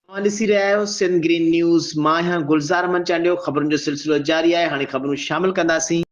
اوهان ڏسي رهيا آهيو سنڌ گرين نيوز مان آهيان گلزار احمد چانڊيو خبرن جو سلسلو جاري آهي هاڻي خبرون شامل ڪنداسين.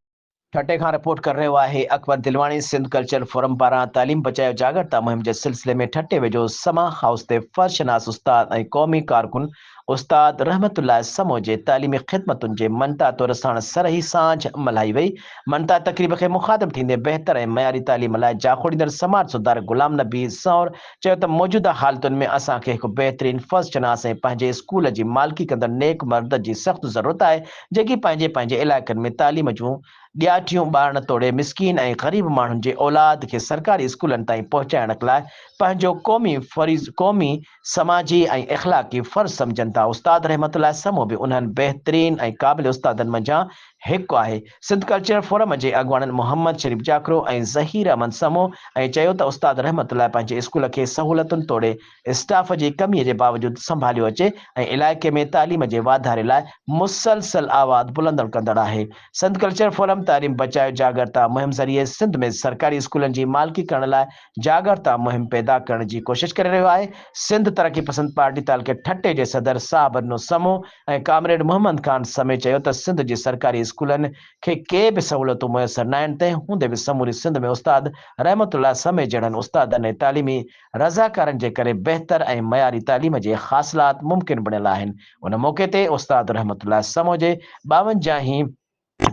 ٺٽي کان رپورٽ ڪري رهيو آهي اڪبر دلواڻي سنڌ ڪلچرل فورم پاران تعليم بچايو جاڳرتا مهم جي سلسلي ۾ ٺٽي ويجهو سما هائوس تي فرض شناس استاد ۽ قومي ڪارڪن استاد رحمت الله سمو جي تعليمي خدمتن جي مڃتا طور ساڻس سرهي سانجھ ملهائي وئي مڃتا تقريب کي مخاطب ٿيندي بهتر ۽ معياري تعليم لاء جاکوڙيندڙ سماج سڌارڪ غلام نبي سانور چيو ته موجوده حالتن ۾ اسان کي هڪ بهترين فرض شناس ۽ پنهنجي اسڪول جي مالڪي ڪندڙ نيڪ مرد جي سخت ضرورت آهي جيڪي پنهنجي پنهنجي علائقن ۾ تعليم جون ڏياٺيون ٻارڻ توڙي مسڪين ۽ غريب ماڻهن جي اولاد کي سرڪاري اسڪولن تائين پهچائڻ لاء پنهنجو قومي فريض قومي سماجي ۽ اخلاقي فرض سمجهن ٿا استاد رحمت الله سمون به انهن بهترين ۽ قابل استادن منجهان هڪ آهي. سنڌ ڪلچرل فورم جي اڳواڻن محمد شريف جاکرو ۽ ظهير احمد سمو ۽ چيو ته استاد رحمت الله پنهنجي اسڪول کي سهولتن توڙي اسٽاف جي ڪمي جي باوجود سنڀاليو اچي ۽ علائقي ۾ تعليم جي واڌاري لاء مسلسل آواز بلندڻ ڪندڙ آهي سنڌ ڪلچرل فورم تعليم بچايو جاڳرتا مهم ذريعي سنڌ ۾ سرڪاري اسڪولن جي مالڪي ڪرڻ لاء جاڳرتا مهم پيدا ڪرڻ جي ڪوشش ڪري رهيو آهي، سنڌ ترقي پسند پارٽي تعلقي ٺٽي جي صدر صابرنو سمو ۽ ڪامريڊ محمد خان سمي چيو ته سنڌ جي سرڪاري اسڪولن کي ڪي به سهولتون ميسر ناهن تنهن هوندي به سموري سنڌ ۾ استاد رحمت الله سمي جهڙن استادن ۽ تعليمي رضاڪارن جي ڪري بهتر ۽ معياري تعليم جي حاصلات ممڪن بڻيل آهن ان موقعي تي استاد رحمت الله سمو جي ٻاونجاهين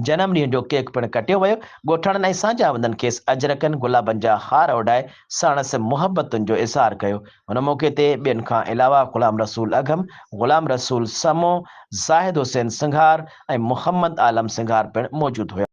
جنم ڏينهن جو ڪيڪ پڻ ڪٽيو ويو. ڳوٺاڻن ۽ سانجهاوندن کيس اجرڪن گلابن جا هار اوڍائي ساڻس محبتن جو اظهار ڪيو. ان موقعي تي ٻين کان علاوه غلام رسول اگهم، غلام رسول سمون، زاهد حسين سنگهار ۽ محمد عالم سنگهار پڻ موجود هيا.